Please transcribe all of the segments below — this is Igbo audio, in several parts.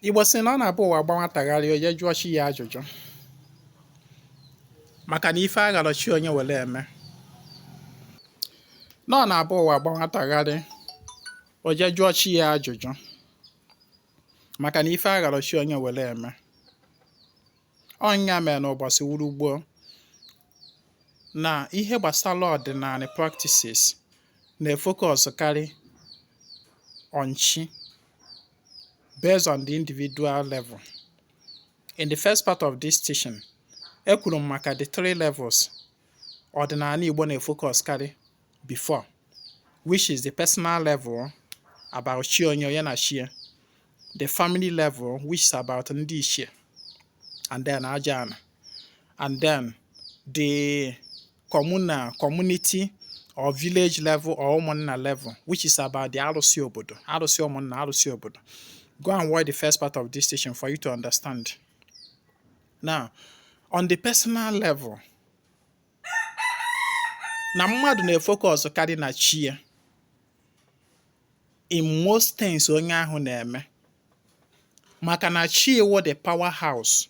Igbo sị na ọ na-abụ ụwa gba nwata gharịị o je jụọ chi ya ajụjụ maka na ife agharọ chi onye were eme na ọ na-abụ ụwa gba nwata gharịị o je jụọ chi ya ajụjụ maka na ife agharọ chi onye were eme ọ nya mere n'ụbọchị wuru gboo na ihe gbasara ọdịnanị practices na-efocus karị on chi based on the individual level. In the first part of this teaching, ekwuru m maka the three levels ọdịnanị Igbo na-efocus karị before which is the personal level about chi onye onye na chi ya the family level which is about ndị ichie and then aja ana and then the communal, community or village level or ụmụnna level which is about the arụsị obodo arụsị ụmụnna arụsị obodo go and watch the first part of this teaching for you to understand now on the personal level na mmadụ na-efocus karị na chi ya in most things onye ahụ na-eme maka na chi ya wo the power house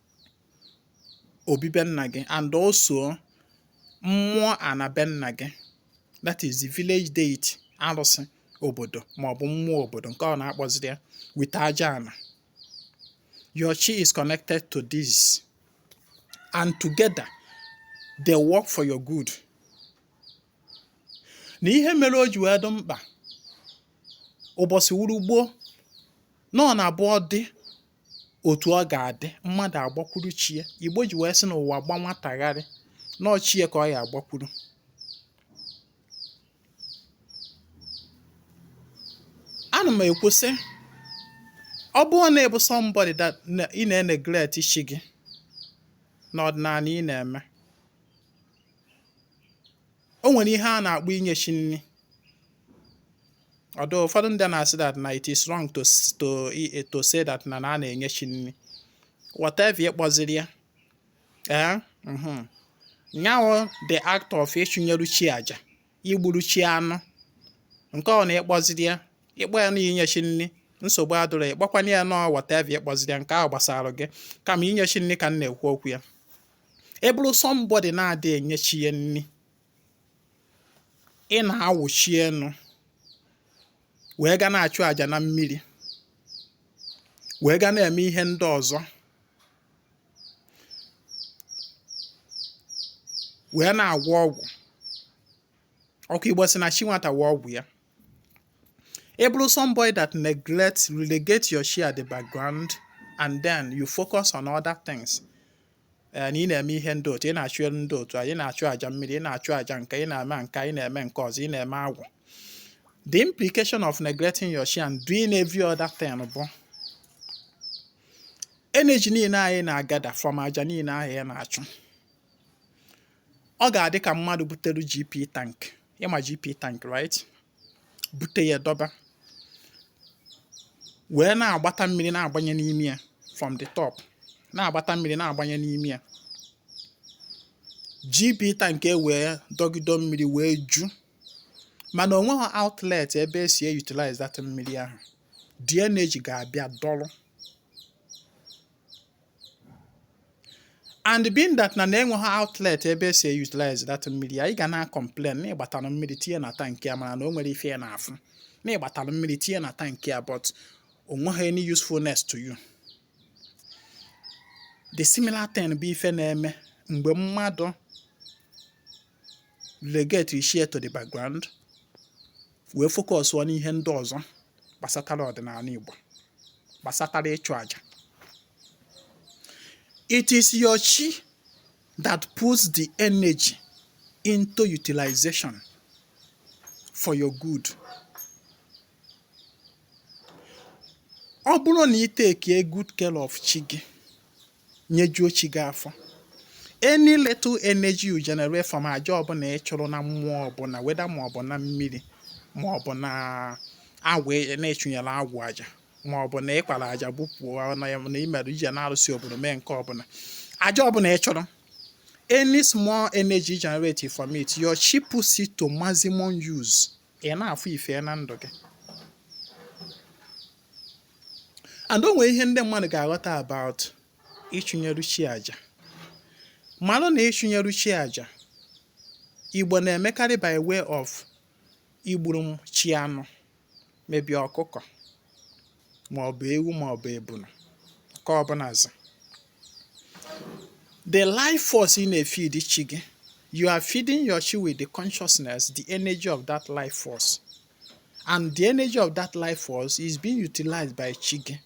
obi be nna gị and also mmụọ ana be nna gị that is the village deity arụsị obodo maọbụ mmụọ obodo nke ọ na ị kpọziri ya with aja ana your chi is connected to this and together they work for your good na ihe mere o ji wee dị mkpa ụbọchị wuru gboo na ọ na-abụ ọ dị otu ọ ga-adị mmadụ agbakwuru chi ya igbo ji wee sị na ụwa gba nwata gharịị na ọ chi ya ka ọ ya-agbakwuru ana m ekwu sị ọ bụrụ na ị bụ somebody that ị na-eneglect chi gị n'ọdịnanị ị na-eme O nwere ihe a na-akpọ inye chi nri. Although ụfọdụ ndị na-asị that na it is wrong to to to say that na na a na-enye chi nri. Whatever ị kpọziri ya. Ee. Mhm. Nya wo the act of ịchụnyeru chi aja, igburu chi anụ. Nke ọ na ị kpọziri ya, ị kpọọ ya na inye chi nri. nsogbu adịrọ ya ị kpọkwanụ ya na ọ whatever ị kpọziri ya nke ahụ gbasara gị kama inye chi nri ka m na-ekwu okwu ya ị bụrụ somebody na-adị enye chi ya nri ị na-awụ chi enu wee ga na-achụ àjà na mmiri wee ga na-eme ihe ndị ọzọ wee na-agwọ ọgwụ ọkwa igbo sị na chi nwata wo ọgwụ ya ị bụrụ somebody that neglect relegate your chi at the background and then you focus on other things eh, na ị na-eme ihe ndị otu ị na-achụ elu ndị otu ị na-achụ aja mmiri ị na-achụ aja nke ị na-eme nke a ị na-eme nke ọzọ ị na-eme agwụ the implication of neglecting your chi and doing every other thing bụ energy niile ahụ ị na-agather from aja niile ahụ ị na-achụ ọ ga-adị ka mmadụ butere GP tank ị ma GP tank right bute ya dọba wee na-agbata mmiri na-agbanye n'ime ya from the top na-agbata mmiri na-agbanye n'ime ya GP tank e wee dọgido mmiri wee ju mana o nweghị outlet ebe e si e utilize that mmiri ahụ the energy ga-abịa dọrọ and being that na na enweghị outlet ebe e si e utilize that mmiri ahụ ị ga na-complain na ị gbatalụ mmiri tinye na tank a mana na o nwerọ ife ya na-afụ na ị gbatalụ mmiri tinye na tank a but o nweghị any usefulness to you the similar thing bụ ife na-eme mgbe mmadụ relegate chi ya to the background wee focus on ihe ndị ọzọ gbasatara ọdịnala Igbo gbasatara ịchụ aja it is your chi that puts the energy into utilization for your good ọ bụrụ na ị take a good care of chi gị nyejuo chi gị afọ any little energy you generate from aja ọbụla ị chụrụ na mmụọ ọbụla whether ma ọ bụ na mmiri ma ọ bụ na agwụ e, na ị chụnyere agwụ aja ma ọ bụ na ị kwara aja bupụọ na ya na i merụ ị je n'arụsị obodo mee nke ọbụla aja ọbụla ị chụrụ any small energy generated from it your chi puts it to maximum use ị na-afụ ife na ndụ gị and o nwere ihe ndị mmadụ ga-aghọta about ịchụnyeru chi aja malụ na ịchụnyeru chi aja Igbo na-emekarị by way of igburu chi anụ maybe ọkụkọ maọbụ ewu maọbụ ebunu nke ọbụla is the life force ị na-efeed chi gị you are feeding your chi with the consciousness the energy of that life force and the energy of that life force is being utilized by chi gị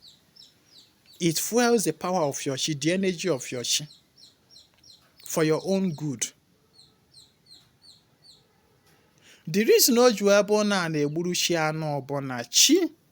it fuels the power of your chi the energy of your chi for your own good the reason o ji wee bụ na a na-egburu chi anụ bụ na chi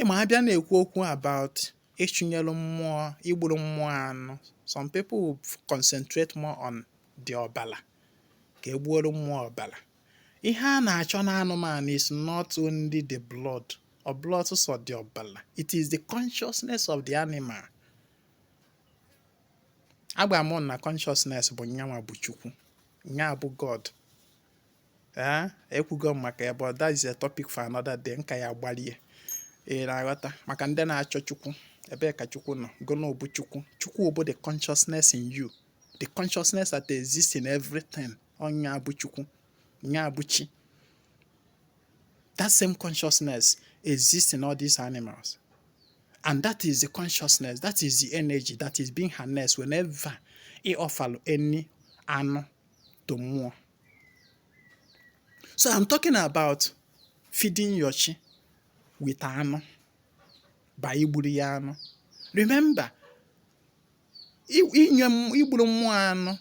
ị ma abịa na-ekwu okwu about ịchụnyelu mmụọ igburu mmụọ anụ some people will concentrate more on the ọbala ka egbuoro mmụọ ọbala ihe a na-achọ n'anụmanụ is not only the blood ọ bụrọ sọ the ọbala it is the consciousness of the animal agwa m na consciousness bụ nyanwa bụ chukwu nya bụ god ee ekwugo m maka ya but that is a topic for another day nka ya gbalie ị na-aghọta maka ndị na-achọ chukwu ebee ka chukwu nọ gụnụ bụ chukwu chukwu bụ the consciousness in you the consciousness that exists in everything nya bụ chukwu nya bụ chi that same consciousness exists in all these animals and that is the consciousness that is the energy that is being harnessed whenever you offer any anụ to mmụọ so I'm talking about feeding your chi with anụ by igburu ya anụ remember inye igburu mmụọ anụ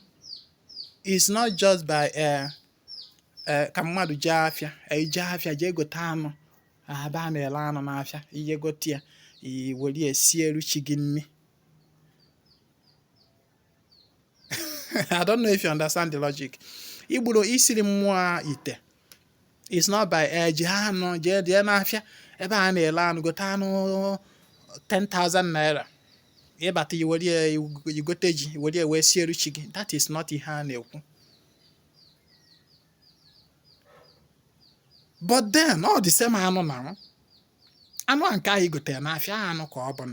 is not just by uh, uh, ka mmadụ jee afịa ije eh, afịa jee gote anụ ebe a na-ele anụ n'afịa i jee gote ya i were ya sieru chi gị nri I don't know if you understand the logic. Igburu isiri mmụọ ite is not by eh jee anụ jee jee n'afịa ebe a na-ele anụ gote anụ 10,000 naira ị bata i were i gote ji were wee siere chi gị that is not ihe a na-ekwu but then ọ the same anụ na anụ a nke ahụ i gotere n'afịa anụ ka ọ bụ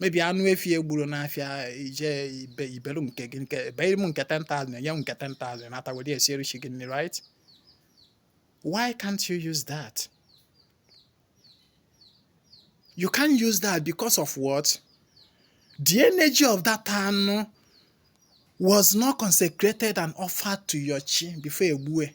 maybe anụ efi egburu n'afịa i jee i be i belu nke gị nke beere m nke 10,000 nye m nke 10,000 nata were siere chi gị nri right why can't you use that you can't use that because of what the energy of that anụ was not consecrated and offered to your chi before egbue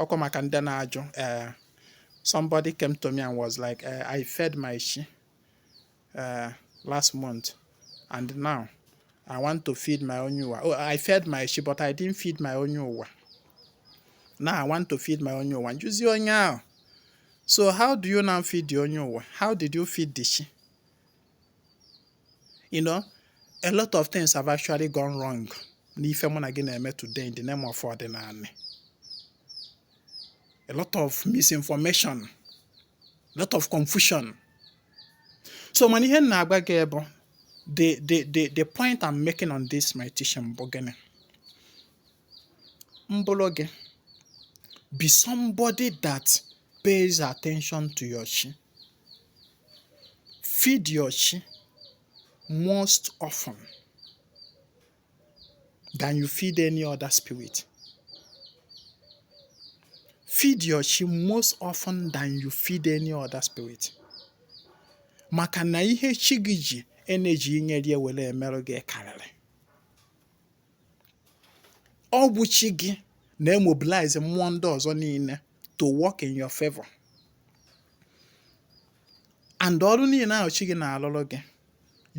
ọkwa maka ndị na-ajụ ee eh, somebody came to me and was like eh, I fed my she eh, last month and now I want to feed my onye ụwa oh I fed my she but I didn't feed my onye ụwa now I want to feed my onye ụwa njuzi onye ahụ so how do you now feed the onye ụwa how did you feed the she you know a lot of things have actually gone wrong n'ife mụ na gị na-eme today in the name of ọdịnanị a lot of misinformation a lot of confusion so mana ihe m na-agwa gị bụ the the the the point I'm making on this my teaching bụ gịnị m bụrụ gị be somebody that pays attention to your chi feed your chi most often than you feed any other spirit feed your chi most often than you feed any other spirit maka na ihe chi gị ji energy i nyere ya were emerụ gị karịrị Ọ bụ chi gị na-emobilize mmụọ ndị ọzọ niile to work in your favor. And ọrụ niile ahụ chi gị na-alụrụ gị,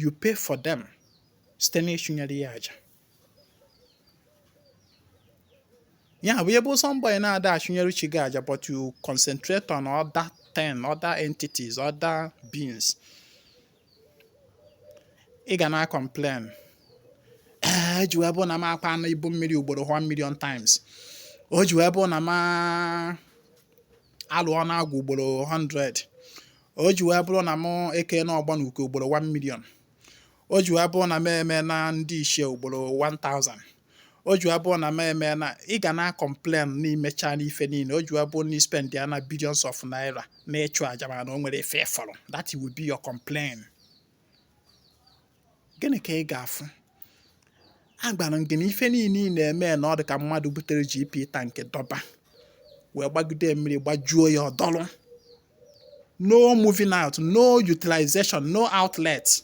you pay for them site n'ịchụnyere ya aja. ya bụ ị bụ somebody na-ada achụnyere chi gị aja but you concentrate on other ten other entities other beings ị ga na-acomplain o ji wee bụ na m akwaana ibu mmiri ugboro 1 million times o ji wee bụ na m alụọna agwụ ugboro 100 o ji wee bụrụ na m ekena ọgba na uke ugboro 1 million o ji wee bụrụ na m emena ndị ichie ugboro 1000 o ji abụ na m emena ị ga na-acomplain na i mechana ife niile o ji abụ na ị spendịana billions of naira na ịchụ aja mana o nwerọ ife ị fụrụ that will be your complaint gịnị ka ị ga-afụ agwara m gị na ife niile ị na-eme na ọ dị ka mmadụ butere GP tank dọba wee gbagide mmiri gbajuo ya ọ dọlụ no moving out no utilization no outlet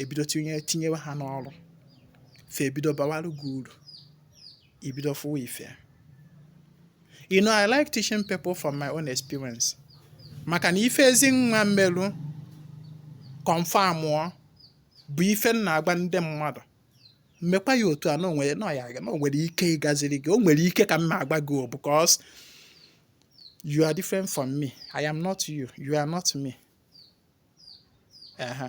ebido tinye tinyewe ha n'ọrụ fa ebido bawarụ gị uru i bido fụwa ife you know i like teaching people from my own experience maka na ife ezi nwa m merụ confirmụọ bụ ife m na-agwa ndị mmadụ mekwa ya otu a na o nwere ike ịgaziri gị o nwere ike ka m na-agwa gị o because you are different from me i am not you you are not me ehe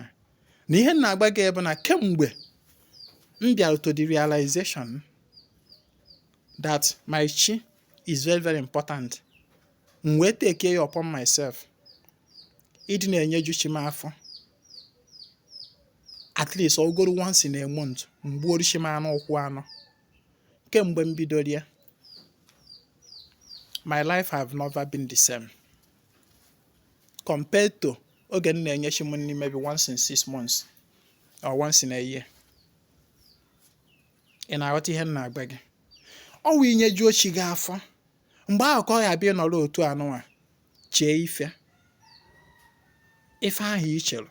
na ihe m na-agwa gị bụ na kemgbe m bịara to the realization that my chi is very very important m wee take ya upon myself ịdị na-enyeju chi m afọ at least ugboro once in a month m gbuoro chi m anụ ụkwụ anọ kemgbe m bidoro ya my life have never been the same. compared to oge m na-enye chi m nri maybe once in six months or once in a year ị na-aghọta ihe m na-agwa gị ọ wụ i nyejuo chi gị afọ mgbe ahụ ka ọ ya-abụ ị nọrọ otu anụnwa chee ife ife ahụ i chere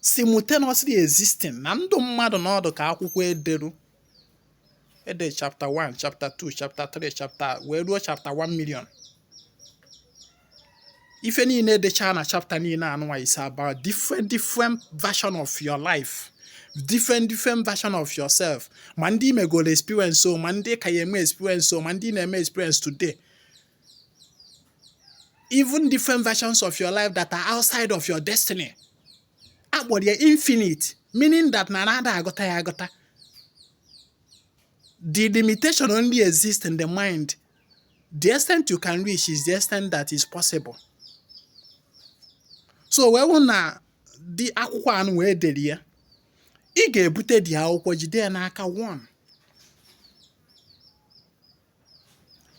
simultaneously existing na ndụ mmadụ na ọ dụ ka akwụkwọ e deru ede chapter 1 chapter 2 chapter 3 chapter wee ruo chapter 1 million ife niile edechaa na chapter niile anụnwa is about different different version of your life different different version of yourself ma ndị i megoro experience o ma ndị ị ka ya-eme experience o ma ndị ị na-eme experience today even different versions of your life that are outside of your destiny a kpọrọ ya infinite meaning that na na a da agụta ya agụta the limitation only exists in the mind the extent you can reach is the extent that is possible so wee wụ na the akwụkwọ anụwa e dere ya ị ga-ebute the akwụkwọ jide ya n'aka one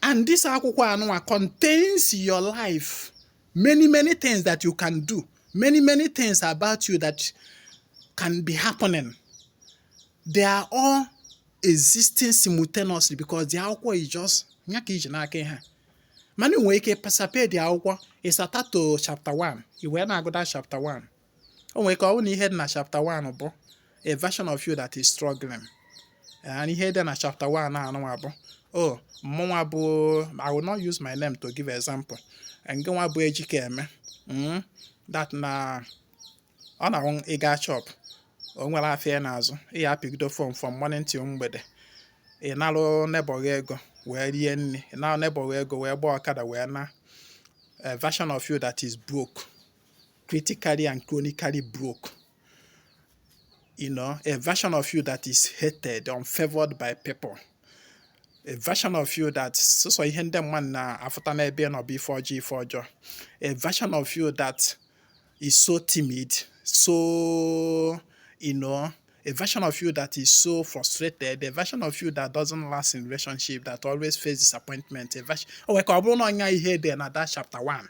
and this akwụkwọ anụnwa contains your life many many things that you can do many many things about you that can be happening they are all existing simultaneously because the akwụkwọ is just ya ka i ji n'aka ihe mana i nwere ike bịa sape the akwụkwọ ị sata to chapter 1 i wee na-agụda chapter 1 o nwere ike ọ bụrụ na ihe dị na chapter 1 bụ a version of you that is struggling and ihe dị na chapter 1 anụnwa bụ o oh, mmụnwa bụ I will not use my name to give example ngịnwa bụ Ejikeme hmm? that na ọ na ị ga shop o nwerọ afịa ị na-azụ ị ya apịgido phone from morning till mgbede ị narụ neighbor gị ego wee rie nri ị narụ neighbor gị ego wee gbaa ọkada wee naa a version of you that is broke critically and chronically broke. You know, a version of you that is hated, unfavored by people. A version of you that so so ihe ndị mmadụ na-afụta n'ebe ị nọ bụ ife ọjọọ ife ọjọọ. A version of you that is so timid, so you know, a version of you that is so frustrated, a version of you that doesn't last in relationship, that always face disappointment, a version. Oh, o nwere ike ọ bụrụ na ọ nya ihe dị na that chapter 1.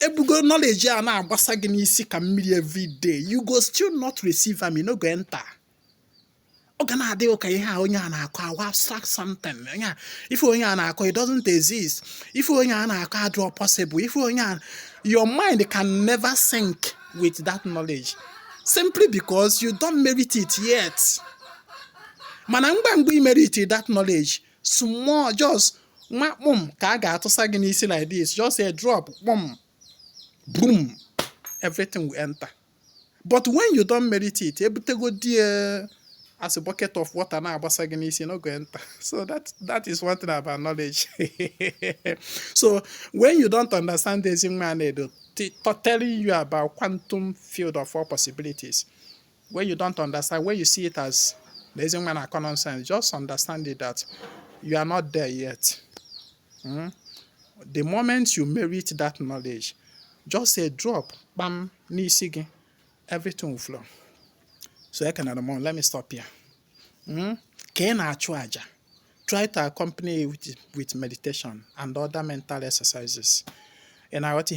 e bugo knowledge a na-agbasa gị n'isi ka mmiri everyday you go still not receive am no go enter ọ ga na-adị gị ka ihe a onye a na-akọ a wụ abstract something onye ife onye a na-akọ it doesn't exist ife onye a na-akọ adịrọ possible ife onye a your mind can never sync with that knowledge simply because you don't merit it yet mana ngwa ngwa i merit that knowledge small just nwa kpụm ka a ga-atụsa gị n'isi like this just a drop kpụm boom everything will enter but when you don't merit it ebutegodi ya as a bucket of water na-agbasa gị n'isi no go enter so that is one thing about knowledge so when you don't understand the Ezinwa Anedo telling you about quantum field of all possibilities When you don't understand, when you see it as na ezi nwa na-akọ nonsense, just understand it that you are not there yet. Mm? The moment you merit that knowledge, just a drop, bam, n'isi gị, everything will flow. So ekenere m, let me stop here. Mm? Ka ị na-achụ aja. try to accompany it with, with meditation and other mental exercises. And I what he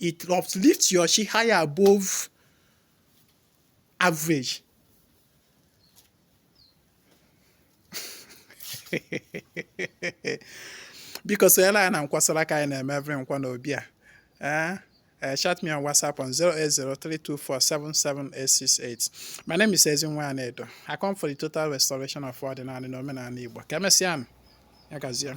it uplifts your chi higher above average. biko sonyere anyị na nkwasara aka anyị na-eme every Nkwọ n'obi a eh? Eh, chat me on WhatsApp on 08032477868. My name is Ezinwa Anedo. I come for the total restoration of ọdịnala na omenala Igbo. Ka emesịa nụ, ya gazie.